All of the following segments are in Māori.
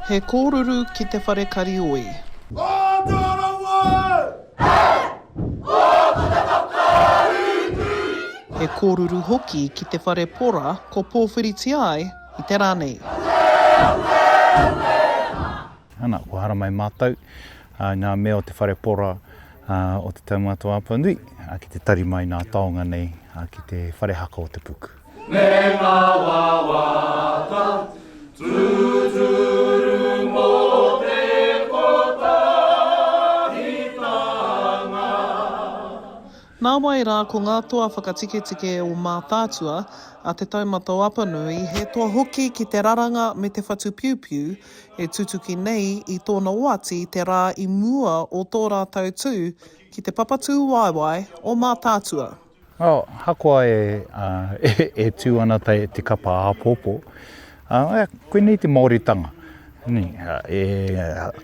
He kōruru ki te whare karioi. He kōruru hoki ki te whare pora ko pōwhiritia ai i te rā nei. Ana, kua haramai mātou i ngā mea o te whare pora o Te Taumata o Apanui ki te tari mai nā taonga nei ki te whare haka o te puku. Me ngā wawata tūturu mō te kotahitanga. Nāwai rā ko ngā toa whakatiketike o Mātaatua a Te Taumata o Apanui he toa hoki ki te raranga me te whatupiupiu e tutuki nei i tōna oati te rā i mua o tō rātou tū ki te papatūwaewae o Mātaatua. Ahakoa e tū ana te kapa āpōpō, koinei te Māoritanga.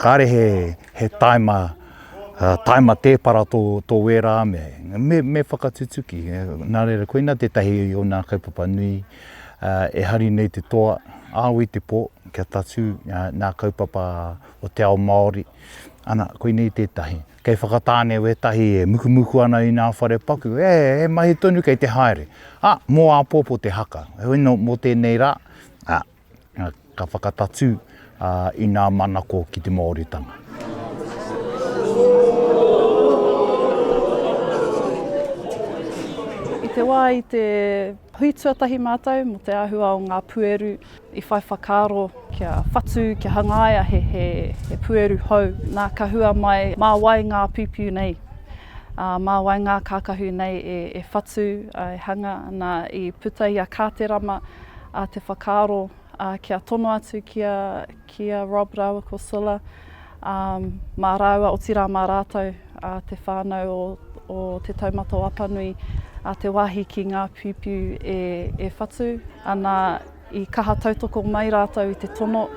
Kāre he tāima tēpara tō wērā mea, me whakatutuki. Nā reira, koina tētahi o nā kaupapa nui e hari nei te toa, āu i te pō, kia tatū nā kaupapa o te ao Māori. Ana, koinei tētahi. Kei Whakatāne wētahi e mukumuku ana i nā whare paku, e, he mahi tonu kei te haere. Ā, mō āpōpō te haka. Heoi anō, mō tēnei rā, ā, ka whakatatū, ā, i nā manako ki te Māoritanga. I te wā i te hui tuatahi mātou mō te āhua o ngā pueru, I whai whakaaro kia whatu, kia hangaia he he pueru hou. Nā ka hua mai, mā wai ngā piupiu nei, ā, mā wai ngā kākahu nei e e whatu, e hanga. Nā, i puta i a Kāterama te whakaaro kia tono atu ki a ki a Rob rāua ko Silla. um, mā rāua, otirā mā rātou, uh, te whānau o, o Te Taumata o Apanui, uh, te wāhi ki ngā piupiu e, e whatu, ana i kaha tautoko mai rātou i te tono.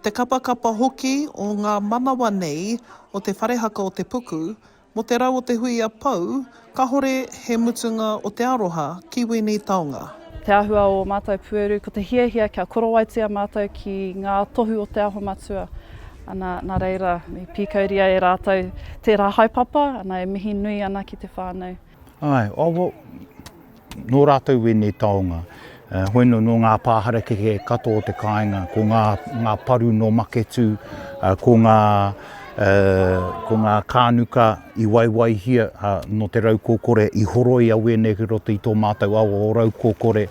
Te kapakapa hoki o ngā manawa nei o Te Wharehaka o Te Puku, Mo te rau o te hui a Pou, kahore he mutunga o te aroha ki wēnei taonga. Te ahua o matou pueru, ko te hiahia kia korowaitia matou ki nga tohu o Te Aho Matua. Ana, na reira, i pikauria e ratou tera haepapa, ana e mihi nui ana ki te whanau. Ae, oh well, Nō rātou ēnei taonga. Hoino nō ngā pā harakeke katoa o te kāinga, ko ngā ngā paru nō Maketū, ko ngā ko ngā kānuka i waiwaihia nō te raukōkore, i horoi a wēnei ki roto i tō mātou awa o raukōkore.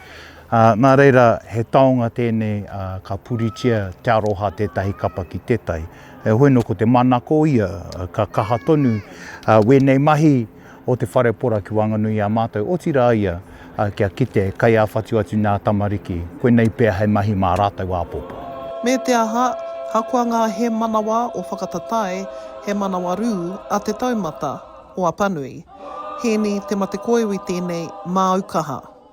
Nā reira, he taonga tēnei ka puritia te aroha tētahi kapa ki tētahi. Hoino ko te manako ia, ka kaha tonu wēnei mahi, o te wharepora ki waenganui i a mātou, otirā ia kia kite kei a whatu atu nā tamariki, koinei pea hei mahi mā rātou āpōpō. Me te aha, hakoa ngā he manawa o whakatatae, he manawa rū a te taumata o Apanui. Hēni Te Matekoiwi tēnei, māu kaha.